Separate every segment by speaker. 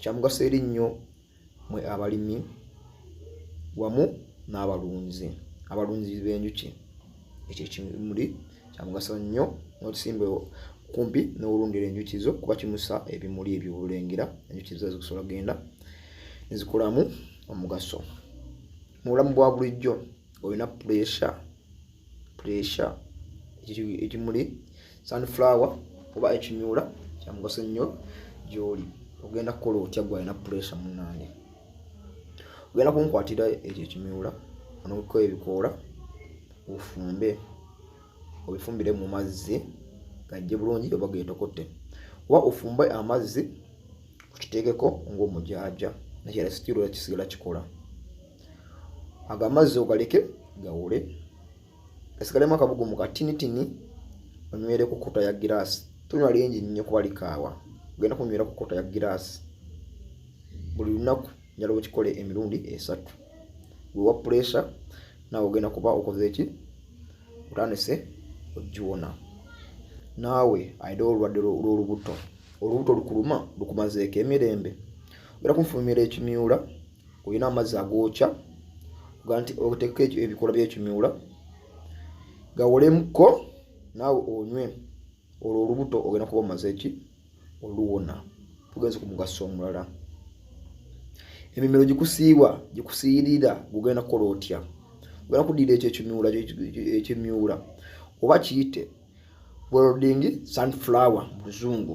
Speaker 1: kyamugaso eri nnyo mwe abalimi wamu n'abalunzi abalunzi b'enjuki ekyo ekimuli kyamugaso nnyo n'otusimba kumpi n'owulundira enjuki zo kuba kimusa ebimuli ebyo obulengera enjuki zo zikusobola kugenda nezikolamu omugaso mu bulamu bwa bulijjo olina puresure pressure ekimuli sunflower oba ekimyula kyamugaso nnyo gyoli ogenda kukola otya gwe alina pressure munange ogenda kunkwatira ekyo ekimyula onokuko ebikoola ofumbe obifumbire mu mazzi gajje bulungi oba getokote oba ofumbe amazzi okiteekeko ngaomujaaja nakyala sikirola kisigala kikola ago amazzi ogaleke gawule gasigalemu akabugumu katinitini onywere ku kota ya giraasi tonywa lingi nnyo kuba likaawa ogenda kunywera ku kota ya giraasi buli lunaku njala okikole emirundi esatu wewa puresha naawe ogenda kuba okoze eki otandise ogiwona naawe ayina olulwadde lw'olubuto olubuto lukuluma lukumazeeko emirembe ogenda kunfumira ekimyula olina amazzi agookya ogaa nti oteeka ebikola byekimiwula gawolemuko naawe onywe olwo olubuto ogenda kuba omaze ki oluwona tugenze ku mugaso omulala emimiro gikusiiwa gikusiyirira gugenda kukola otya ogenda kudira ekyo ekimiwula ekimiwula oba kiyite boroding sunflower mu luzungu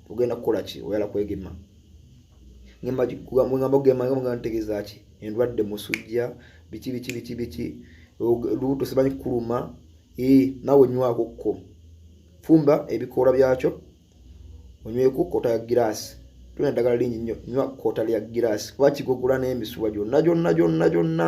Speaker 1: ogenda kukola ki oyala kwegema ngamba kugema nga ntegeza ki endwadde musujja biki biki biki biki lubuto simanyi kuluma ee nawe nywako ko fumba ebikoola byakyo onyweko kota ya giraasi tulina eddagala lingi nnyo nywa kota lya giraasi kuba kigogula n'emisuwa gyonna gyonna gyonna gyonna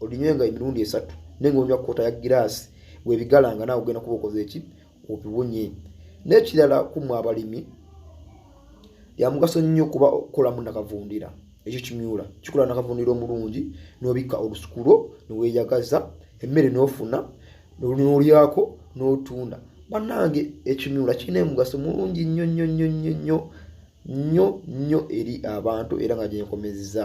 Speaker 1: olinywenga emirundi esatu naye ngaonywa kota ya giraasi webigalanga naawe ogenda kuba okoze eki obiwunye n'ekirala kumwe abalimi yamugaso nnyo kuba okukolamu nakavundira ekyo kimyula kikola nakavundira omulungi n'obikka olusukulo neweyagaza emmere n'ofuna nolyako n'otunda bannange ekimyula kirina emugaso mulungi nnyo nnyo nnyo nnyo nnyo nnyo nnyo eri abantu era nga gyenkomezza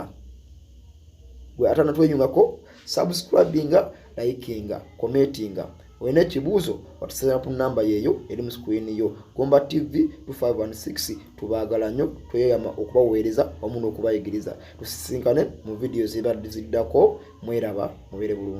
Speaker 1: gwe atanatwenyungako subscribinga likinga commentinga olina ekibuuzo otusazira ku namba yeeyo eri mu sikwini yo gomba tv 256 tubaagala nnyo tweyama okubaweereza wamu n'okubayigiriza tusisinkane mu vidiyo zibadde ziddako mweraba mubeere bulungi